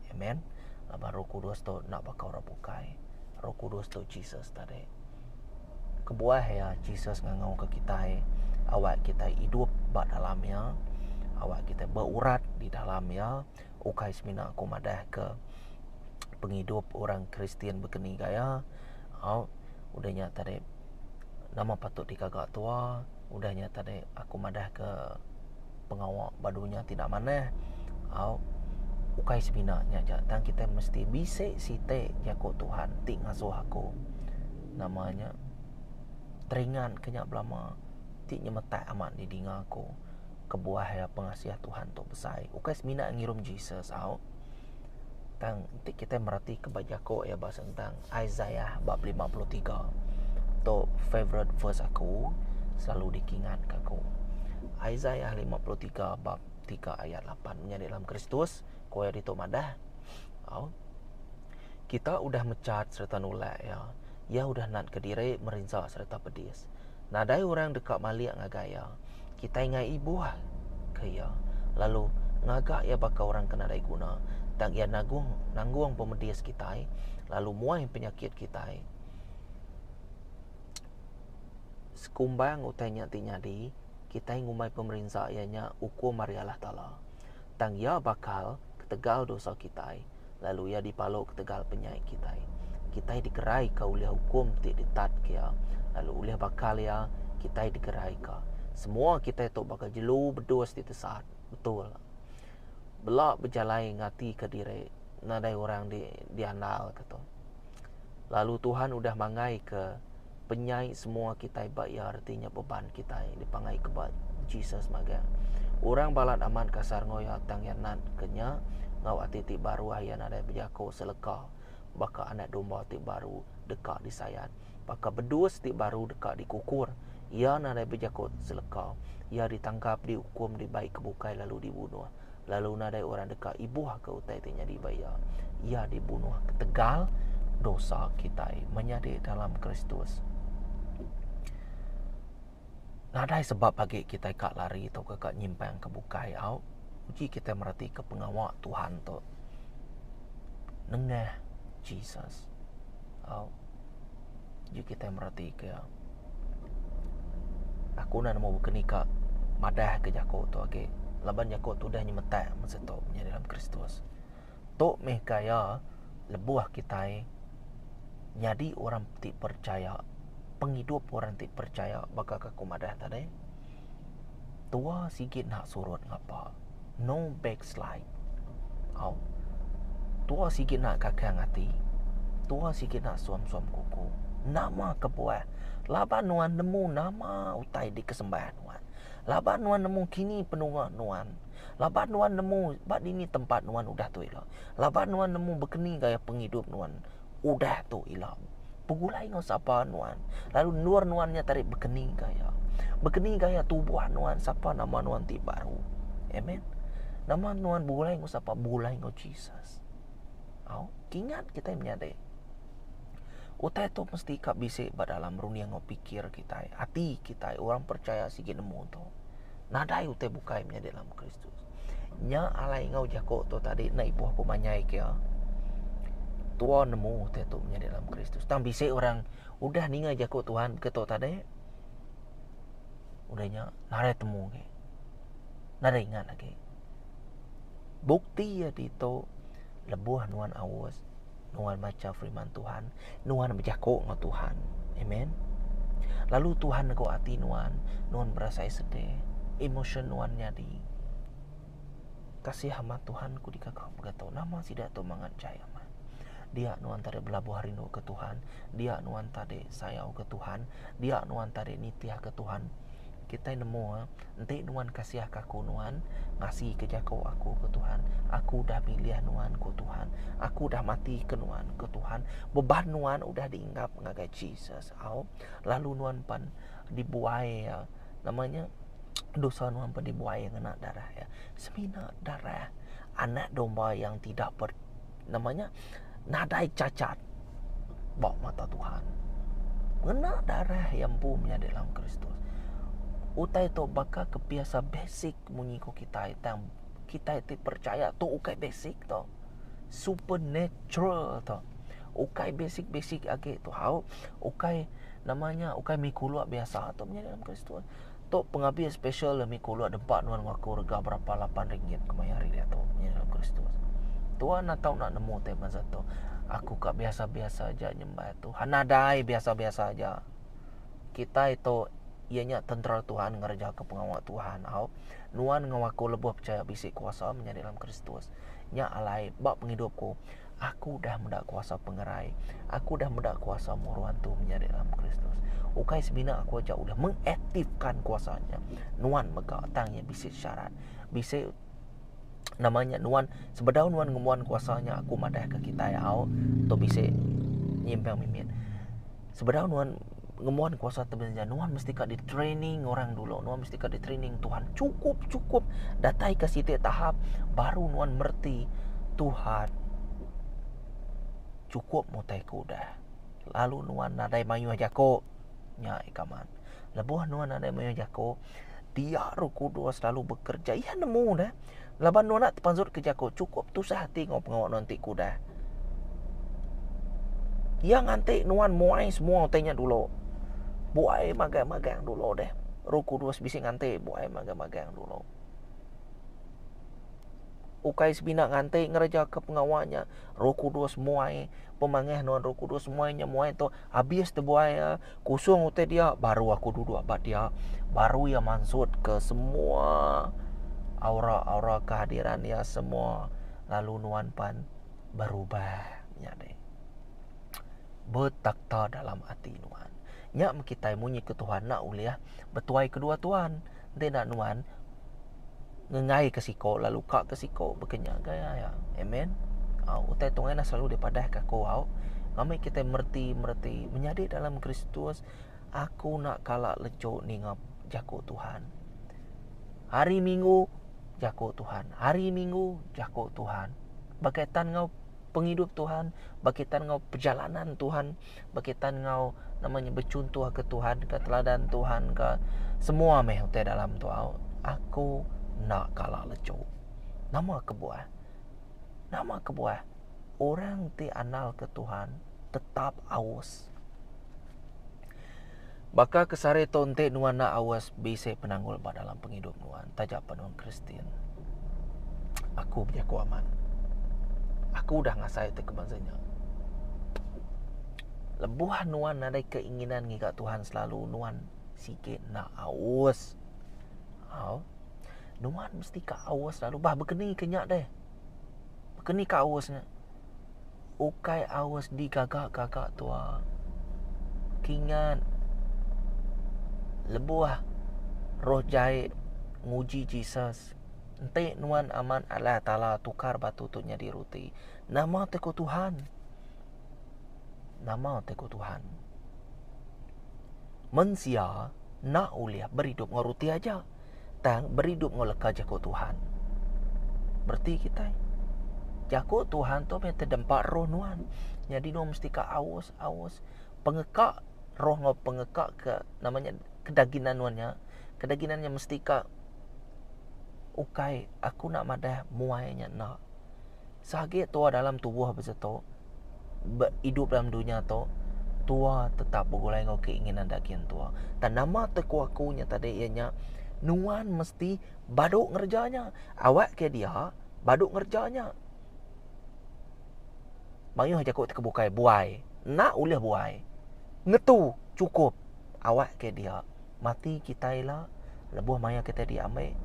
Speaker 1: amen laban roh kudus tu enda baka orang bukai roh kudus tu Jesus tadi. Kebuah iya Jesus ngangauka kitai awak kitai idup ba dalam iya, awak kitai berurat di dalam iya ukai semina aku madahka pengidup orang Kristian bekeni gaya au udah nya tadi nama patut dikaga tua. Udah nya tadi aku madahka pengawa ba dunya ti enda manah au ukai semina nya aja tang kitai mesti bisi siti jaku Tuhan ti ngasuh aku nama nya teringat ka nya belama ti nyemetak amat di dinga aku kebuah iya pengasih Tuhan tu besai ukai semina ngirum Jesus au. Tang enti kita meratika ba jako iya ba sentang Isaiah bab lima puluh tiga tu favourite verse aku selalu dikingat ka aku. Isaiah lima puluh tiga bab tiga ayat lapan menyadi dalam Kristus ku iya ditu madah au Kita udah mecat sereta nulak iya, iya udah natka diri merinsa sereta pedis. Nadai orang deka malik ngagai iya. Kitai ngai ibuh ke iya, lalu ngaga iya baka orang ke nadai guna, tang iya nagung nanggung pemedis kitai, lalu muai penyakit kitai. Sekumbang utai nya ti nyadi, kitai ngumbai pemerinsa iya nya ukum ari Allah Taala. Tang Iya bakal ketegal dosa kitai, lalu Iya dipaluk ketegal penyai kitai. Kitai digeraika ulih ukum ti ditatka Iya, lalu ulih bakal Iya, kitai digeraika. Semua kitai tu baka jelu bedus ti tesat. Betul. Bela bejalai ngatika diri nadai orang di diandalka tu. Lalu Tuhan udah mangaika. penyai semua kitai ba iya reti nya beban kitai dipangai ke ba Jesus magang. Orang balat amat kasar enggau iya tang iya nat ke nya enggau ati ti baruh iya nadai bejako seleka baka anak domba ti baru deka disayat baka bedus ti baru deka dikukur iya nadai bejako seleka iya ditangkap diukum dibai ke bukai lalu dibunuh. lalu nadai orang deka ibuhka utai ti nyadi ba iya. Iya dibunuh ketegal dosa kitai menyadi dalam Kristus. Nadai sebab agi kitai ka lari atau ka nyimpang ke bukai au uji kitai meratika pengawa Tuhan tu. Nengah Jesus. Au. Yu kitai meratika aku enda nemu baka ni ka madah ka jaku tu agi laban jaku tu udah nyemetak masa tu nya dalam kristus. Tu meh ka iya lebuh kitai nyadi orang ti percaya pengidup orang ti percaya baka ka ku madah tadi. Tua sigi enda surut ngapa. No backslide. Au. Tua sigi enda kakang ati. Tua sigi enda suam-suam kuku. Nama kebuah laban nuan nemu nama utai dikesembah nuan. Laban nuan nemu kini penua nuan. Laban nuan nemu ba dini tempat nuan udah tu ila. Laban nuan nemu bekeni gaya pengidup nuan. Udah tu ila begulai enggau sapa nuan, lalu endur nuan nya tadi bekeni gaya. Bekeni gaya tubuh nuan sapa nama nuan ti baru. Amen. Nama nuan begulai enggau sapa? Begulai enggau Jesus. Au, kingat kitai menyadi. Utai tu mesti ka bisi ba dalam runding enggau pikir kitai, ati kitai orang percaya sigi nemu tu. Nadai utai bukai menyadi dalam Kristus. Nya alai enggau jaku tu tadi enda ibuh ku manyai ke. Tua nemu utai tu menyadi dalam Kristus. Tang bisi orang udah ninga jaku Tuhan ke tu tadi. Udah nya narai temu agi. Narai ingat agi. Bukti agi tu lebuh nuan aus nuan macha firman Tuhan, nuan bejako enggau Tuhan. Amen. Lalu Tuhan nego ati nuan, nuan berasai sedih, emotion nuan nyadi. Kasih amat Tuhan ku dika kau begato nama sida tu mangat jai amat. Dia nuan tadi belabuh rindu ke Tuhan, dia nuan tadi sayau ke Tuhan, dia nuan tadi nitih ke Tuhan. Kita nemu eh, Enti nuan kasihka aku, nuan ngasika jaku aku, ku Tuhan. Aku udah milih nuan, ku Tuhan. Aku udah matika nuan, ku Tuhan. Beban nuan udah diinggap ngagai Jesus. Au. Lalu nuan pan dibuai iya. Nama nya? Dosa nuan pan dibuai iya ngena darah iya. Semina darah Anak Domba yang tidak ber nama nya nadai cacat ba mata Tuhan. Ngena darah yang empu menyadi dalam Kristus. Utai tu baka kebiasa basic munyi ku kita tang kita ti percaya tu ukai basic tu. Supernatural tu. Ukai basic-basic agi tu hau. Ukai namanya ukai mikulu biasa tu menyadi dalam Kristus. Tu pengabi spesial demi ku uluk nempa nuan enggau aku rega berapa lapan ringgit kemaya hari diatu nya ngagai Kristus. Tuan enda tau nak nemu tema za tu. Aku ka biasa-biasa aja nyembah Tuhan. Nadai biasa-biasa aja. Kitai tu iya nya tentera Tuhan ngerejaka pengawa Tuhan tau. Nuan enggau aku lebuh pechaya bisi kuasa menyadi dalam Kristus. Nya alai ba pengidup ku. Aku udah meda kuasa pengerai. Aku udah meda kuasa muruan tu menyadi dalam Kristus. Ukai semina aku aja udah mengaktifkan kuasa nya. Nuan mega tang nya bisi syarat. Bisi namanya nuan sebedau nuan ngemuan kuasa nya aku madah ke kitai au tu bisi nyimpang mimit. Sebedau nuan ngembuan kuasa tu belanja nuan mesti ka di training orang dulu nuan mesti ka di training Tuhan cukup cukup datai ke siti tahap baru nuan merti Tuhan cukup mutai ku dah lalu nuan nadai mayuh jako nya ika man lebuh nuan nadai mayuh jako dia ru kudus lalu bekerja iya nemu dah Laban nuan enda tepanzut ke jaku, chukup tusah ati enggau pengawa nuan ti kudah. Iya nganti nuan muai semua utai nya dulu. Buai magang-magang dulu deh. Roh Kudus bisi nganti buai magang-magang dulu. Ukai semina nganti ngerejaka pengawa nya, Roh Kudus muai pemangah nuan Roh Kudus muai nya muai tu Abis tebuai iya kusung utai dia baru aku duduk ba dia baru iya mansut ke semua aura-aura kehadiran iya semua lalu nuan pan berubah nya deh. Betakta dalam ati nuan. Nya meh kitai munyi ke Tuhan enda ulih betuai kedua tuan. Enti enda nuan ngengai ke siko lalu ka ke siko baka nya agai aya. Amen. Au utai tuai enda selalu dipadah ke aku au. Ami kitai mereti mereti menyadi dalam Kristus aku enda kala lejo ninga jako Tuhan. Hari minggu jako Tuhan hari minggu jako Tuhan. Baka tan enggau pengidup Tuhan baka tan enggau pejalanan Tuhan. berkaitan enggau nama nya bechuntoh ke Tuhan ka teladan Tuhan ka semua meh utai dalam tu au aku enda kala lechu nama kebuah nama kebuah orang ti andal ke Tuhan tetap aus. Baka ke sari tu enti nuan enda awas bisi penanggul ba dalam pengidup nuan taja pan orang Kristian. Aku bejaku amat. Aku udah ngasai ti ke bansa nya. Lebuh nuan nadai keinginan ngiga Tuhan selalu nuan sigi enda aus. Au. Nuan mesti ka aus lalu bah bekeni ke nya deh. Bekeni ka aus nya. ukai aus digaga-gaga tua. Kingat lebuh roh jai nguji Jesus, enti nuan amat alai taala tukar batu tu nyadi ruti. Nama ti ku Tuhan? Nama ti ku Tuhan? Mensia enda ulih beridup enggau ruti aja. tang beridup enggau leka jaku Tuhan. Bereti kitai. Jaku Tuhan tu meh tedempa roh nuan. Nyadi nuan mesti ka aus, aus pengeka roh enggau pengeka ke nama nya kedaginan nuan nya. Kedaginan nya mesti ka ukai aku nak madah muai nya enda. Sagi tua dalam tubuh besetu, be idup dalam dunya tu, tua tetap begulai enggau keinginan daging tua. Tan nama tu ku aku nya tadi iya nya nuan mesti badu ngereja nya. Awak ke dia badu ngereja nya. Mayuh jaku ti ke bukai buai. Enda ulih buai. Ngetu chukup awak ke dia. mati kitai ila lebuh maya kitai diambi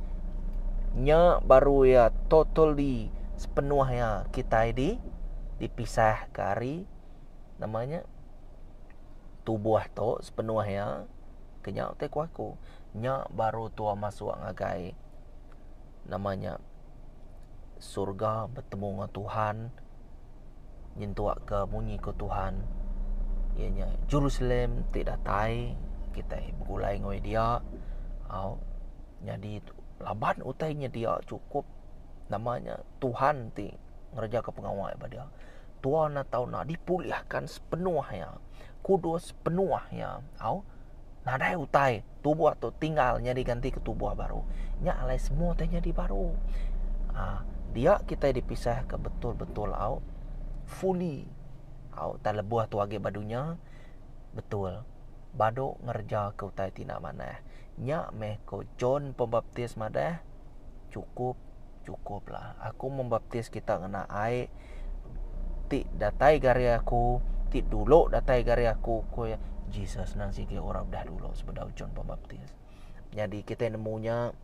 Speaker 1: nya baru iya totally sepenuh iya kitai di dipisah ke ari nama nya tubuh tu sepenuh iya ke nya utai ku aku nya baru tua masuk ngagai nama nya surga betemu enggau Tuhan nyentuk ke munyi ke Tuhan iya nya Jerusalem ti datai kitai begulai enggau dia au nyadi laban utai nya dia cukup nama nya Tuhan ti ngereja ke pengawa ba dia tua enam taun enda dipulih akan sepenuh iya kudus penuh iya au nadai utai. tubuh tu tinggal nyadi ganti ke tubuh baru. Nya alai semua tai nyadi baru. Uh, dia kita dipisah ke betul-betul au fully au tak lebuh tu agi ba dunya betul badu ngereja ke utai ti enda manah. Nya meh ko John Pembaptis madah cukup Chukuplah. Aku membaptis kita ngena ai ti datai gari aku, ti dulu datai gari aku, ku iya. Jesus nang sigi ora udah dulu sebedau John Pembaptis. Nyadi kitai nemu nya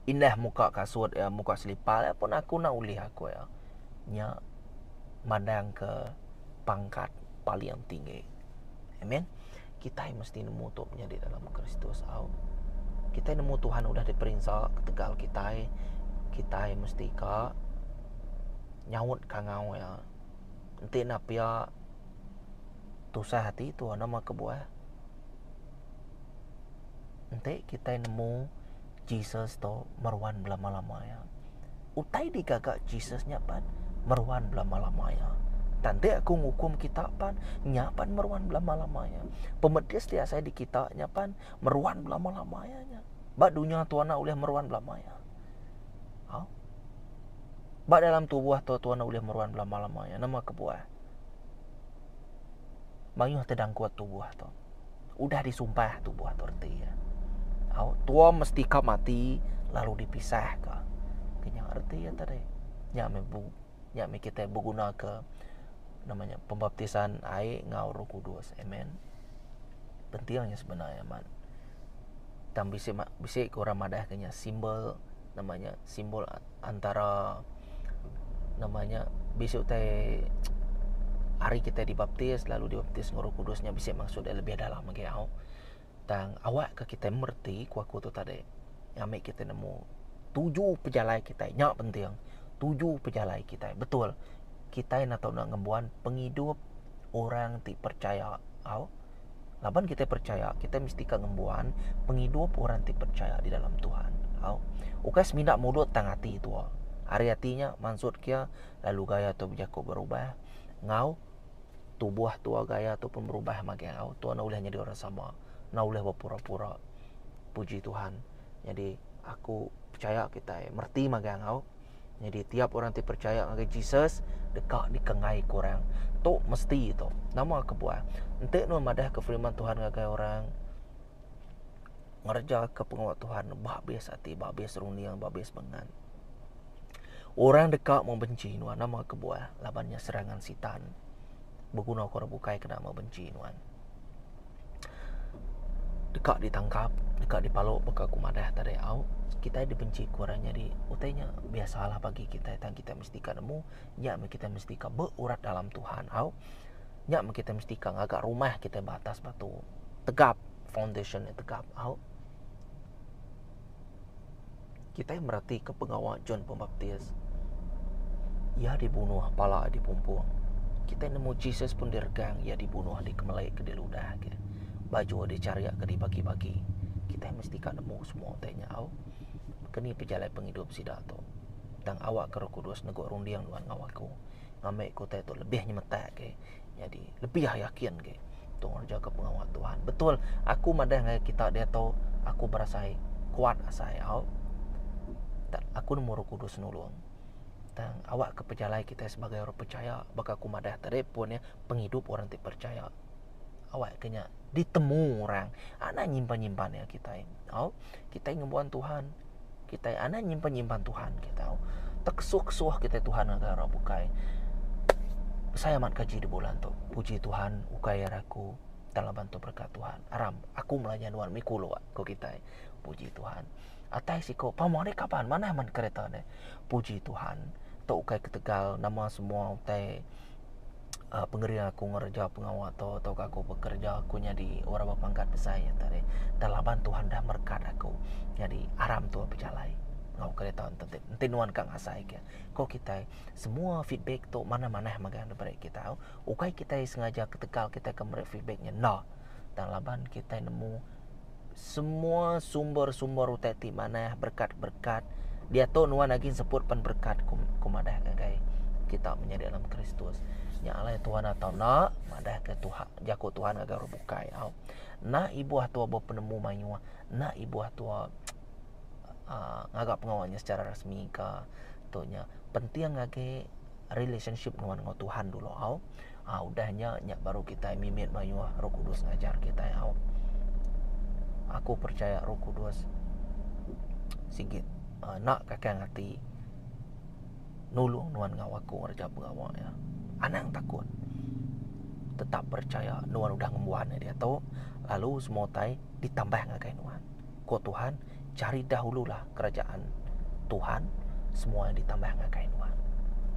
Speaker 1: indah muka kasut iya, muka selipar iya pun aku enda ulih aku iya. Nya mandangka pangkat paling tinggi. Amen. Kitai mesti nemu tu menyadi dalam Kristus au. Kitai nemu Tuhan udah diperinsa ketegal kitai. Kitai mesti ka nyaut ka ngau iya. Enti enda pia tusah ati tua nama kebuah. Enti kitai nemu Jesus tu meruan belama-lama iya. Utai digaga Jesus nya pan meruan belama-lama iya. Tanda aku ngukum kita pan nya pan meruan belama-lama iya. Pemedis ti asai di kita nya pan meruan belama-lama iya nya. Ba dunya tu anak ulih meruan belama iya. Ha? Ba dalam tubuh tu tuan ulih meruan belama-lama iya. Nama kebuah? Mayuh tedangkut tubuh tu. udah disumpah tubuh tu reti. Au tua mesti ka mati lalu dipisah ka. Kenya reti ya tadi. Nya me bu nya me kita beguna ke nama nya pembaptisan ai ngau Roh Kudus. Amen. Pentingnya sebenarnya amat. Tang bisi bisi ke orang madah kenya simbol nama nya simbol antara nama nya bisi utai ari kitai dibaptis lalu dibaptis enggau Roh Kudus nya bisi maksud nya lebih dalam agi au. Tang awak ka kitai mereti ku aku tu tadi ami kitai nemu tuju pejalai kitai nya penting tuju pejalai kitai betul kitai enda tau ngembuan pengidup orang ti percaya au. Laban kitai percaya, kitai mesti ka ngembuan pengidup orang ti percaya di dalam Tuhan. Au. Ukai semina mudut tang ati tua. Ari ati nya mansut kia lalu gaya tua bejaku berubah enggau tubuh tua gaya tua pun berubah magai au. Tua enda ulih nyadi orang sama. Enda ulih bepura-pura. Puji Tuhan. Nyadi aku percaya kitai mereti magang au. Nyadi tiap orang ti percaya ngagai Jesus deka dikengai ke orang. Tu mesti tu. Nama kebuah? Enti nuan madahka firman Tuhan ngagai orang, ngereja ke pengawa Tuhan ba bes ati, ba bes runding, ba bes bengan. Orang deka membenci nuan nama kebuah? Laban nya serangan sitan begunaka orang bukai kena membenci nuan. deka ditangkap deka dipalu baka aku madah tadi au kitai dibenci ku orang nyadi utai nya biasalah bagi kitai tang kitai mesti ka nemu nya meh kitai mesti ka beurat dalam tuhan au nya meh kitai mesti ka ngaga rumah kitai ba atas batu tegap foundation ne tegap au. Kitai meratika pengawa John Pembaptis. Iya dibunuh pala di pumpung. Kitai nemu Jesus pun diregang iya dibunuh di kemelai ke diludah ke. Baju dicaria ke dibagi-bagi. Kitai mesti ka nemu semua utai nya au. Keni pejalai pengidup sida tu. Tang awakka Roh Kudus nego runding nuan ngawa aku. Ngambi ke utai tu lebih nyemetak ke. Nyadi lebih yakin agi tu ngereja ke pengawa Tuhan. Betul aku madah ngai kita diatu aku berasai kuat asai au. Tak aku nemu Roh Kudus nulung. Tang awak ke pejalai kita sebagai orang percaya baka aku madah tadi pun ya pengidup orang ti percaya. Awak ke nya ditemu orang anak nyimpan-nyimpan ya kita. Au kita ngembuan Tuhan. Kitai anai nyimpan-nyimpan Tuhan ke tau. Teksuh-kesuh kitai Tuhan ngagai orang bukai. Besai amat gaji di bulan tu. Puji Tuhan, ukai ari aku dalam bantu berkat Tuhan. Aram, aku melanya nuan miku lua ko kitai. Puji Tuhan. Atai siko, pamo ni kaban manah man kereta ni. Puji Tuhan, tu ukai ketegal nama semua utai pengeri aku ngereja pengawa tu tauka aku bekereja aku nyadi orang bepangkat besai enta deh enta laban Tuhan dah merekat aku nyadi aram tuah bejalai enggau kereta enti ti enti nuan ka ngasai ke ko kitai semua feedback tu manah-manah mega dep meri kita ukai kitai sengaja ketegal kitai ke meri feedback ngena enta laban kitai nemu. semua sumber-sumber utai ti manah berkat-berkat diatu nuan agin sebut pen berkat ku ku madah ngagai kita menyadi dalam Kristus. Nya alai Tuhan atau na madah ke Tuhan jaku Tuhan ngagai orang bukai au. Na ibuh tua bo penemu mayuh, na ibuh tua uh, ngaga pengawa nya secara rasmi ka tu nya. Penting ngagai relationship nuan enggau Tuhan dulu au. Ah udah nya nya baru kitai mimit mayuh Roh Kudus ngajar kitai au. Aku percaya Roh Kudus sigi uh, nak kakang ati nulung nuan ngau aku ngereja pengawa ya. Anang takut. Tetap percaya nuan udah ngembuan dia tu lalu semua tai ditambah ngagai nuan. Ko Tuhan, cari dahululah kerajaan Tuhan, semua ditambah ngagai nuan.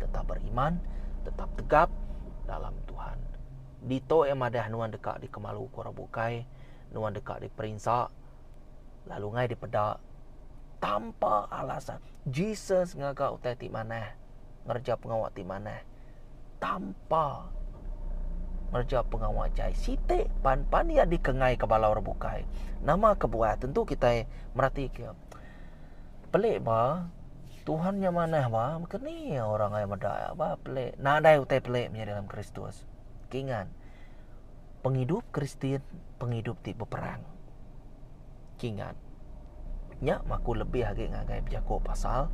Speaker 1: Tetap beriman, tetap tegap dalam Tuhan. Dito yang madah nuan deka dikemalu ko orang bukai, nuan deka diperinsa, lalu ngai dipeda tanpa alasan. Jesus ngaga utai ti manah, ngereja pengawa ti manah. tanpa ngereja pengawa jai siti pan pan iya dikengai ke bala orang bukai nama kebuah tentu kitai meratika pelik ba Tuhan nya manah ba mungkin ni orang meda ba pelik nadai utai pelik menyadi dalam kristus kinggan. pengidup Kristian pengidup ti beperang. Kingat, nya maku lebih agi ngagai bejaku pasal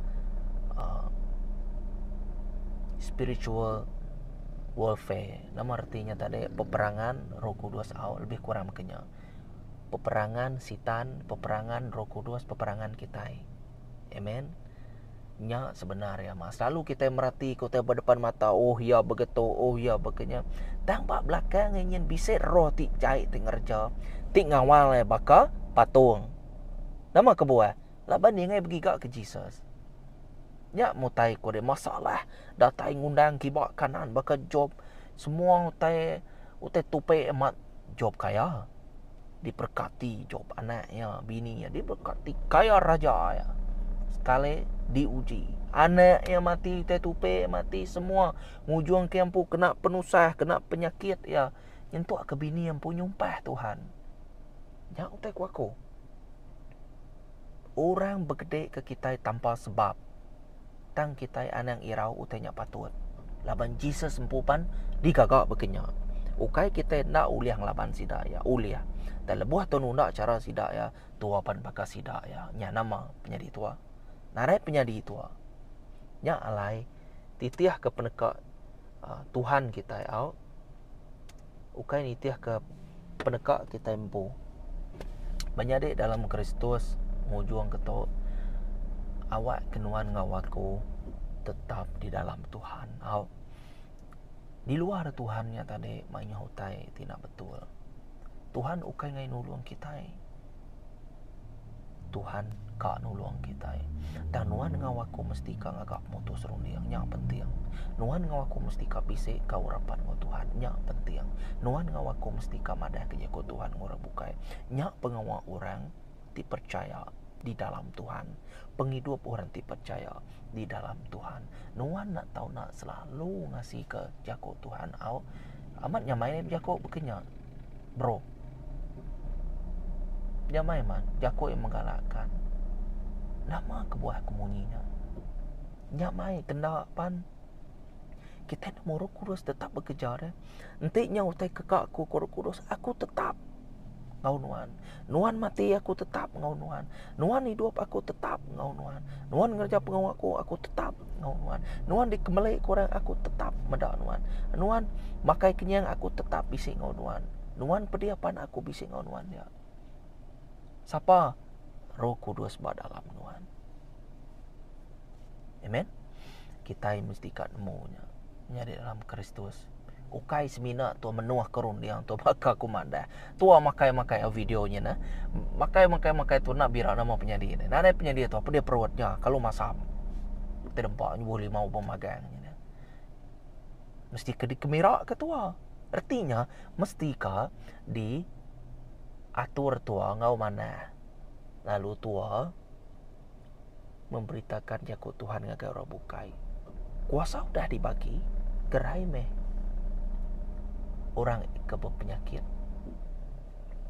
Speaker 1: uh, spiritual warfare. Nama reti nya tadi? Peperangan Roh Kudus au lebih kurang mekanya. Peperangan sitan, peperangan Roh Kudus, peperangan kitai. Amen. Nya sebenar ya mas. Lalu kita merati kita berdepan mata, oh ya begitu, oh ya begenya. Tang ba belakang ingin bisa roh ti jai ti ngerja, ti ngawal ya baka patung. Nama kebuah? Laban dia ngai begiga ke Jesus. Nya mutai ko dia masalah datai ngundang kiba kanan baka Job. Semua utai utai tupi amat Job kaya. diberkati Job anak iya, bini iya diberkati kaya raja iya. Sekali diuji. Anak iya mati, teh tupe mati semua ngujung ke empu kena penusah, kena penyakit iya. Nyentuk ke bini empu nyumpah Tuhan. Nya utai ku aku. Orang begede ke kitai tanpa sebab tang kitai anang irau utai nya patut, laban Jesus empu pan digaga baka nya. Ukai kitai enda ulih ngelaban sida iya, ulih. Tang lebuh tau nunda chara sida iya, tua pan baka sida iya. Nya nama penyadi tua? Narai penyadi tua. Nya alai titihka peneka Tuhan kitai au. ukai nitihka peneka kitai empu. Menyadi dalam Kristus ngujung ke tu awak ke nuan enggau aku tetap di dalam Tuhan. Au. Di luar Tuhan nya tadi maioh utai ti enda betul. Tuhan ukai nulung kitai. Tuhan ka nulung kitai. Dan nuan enggau aku mesti ka ngaga mutus runding. Nya penting. Nuan enggau aku mesti ka bisi enggau rapat enggau Tuhan. Nya penting. Nuan enggau aku mesti ka madah ke jaku Tuhan enggau orang bukai. Nya pengawa orang ti percaya di dalam Tuhan. Pengidup orang ti percaya. di dalam Tuhan. Nuan nak tahu nak selalu ngasi ke jago Tuhan au amat nyamai ni jago bekenya. Bro. Nyamai man jago yang menggalakkan. Nama kebuah kemunyinya? Nyamai kena pan kita ni muruh kudus tetap bekerja deh. Enti nyau utai keka aku kudus aku tetap enggau nuan. Nuan mati aku tetap enggau nuan. Nuan hidup aku tetap enggau nuan. Nuan ngereja pengau aku aku tetap enggau nuan. Nuan dikemeli ke orang aku tetap meda nuan. Nuan makai kenyang aku tetap bisi enggau nuan. Nuan pedih pan aku bisi enggau nuan nya. Sapa roh kudus ba dalam nuan. Amen. Kita mesti ka nemu nya. Nya di dalam Kristus. Ukai semina tu menuah ke runding tu baka ku madah. Tu makai-makai video nya nah. Makai-makai makai tu nak bira nama penyadi ni. Nadai penyadi tu apa dia perut nya kalau masam. Kita dempa nyubuh limau pemagang nya. Nah. Mesti ke dikemira ke tua. Artinya mesti ka di atur tua ngau manah. Lalu tua memberitakan jaku Tuhan ngagai orang bukai. Kuasa udah dibagi, gerai meh orang ke berpenyakit.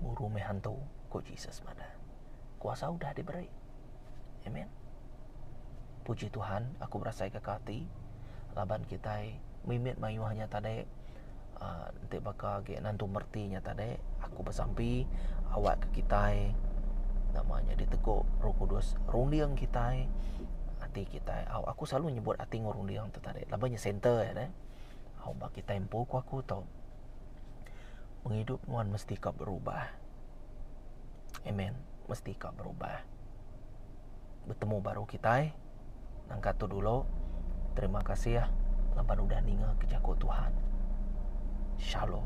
Speaker 1: Buru meh hantu, ku Jesus madah. Kuasa udah diberi. Amen. Puji Tuhan, aku berasai ke kati, laban kita mimit mayuh nya tadi, Uh, enti baka agi nentu mereti nya tadi, aku besampi awakka kitai nama nya diteguk Roh Kudus runding kitai, ati kitai. Au aku selalu nyebut ati enggau runding tu tadi laban nya center iya deh. Au ba kitai empu ku aku tu pengidup nuan mesti ka berubah. Amen. Mesti ka berubah. Betemu baru kitai. Nangka tu dulu. Terima kasih laban udah ninga ke jaku Tuhan. Shalom.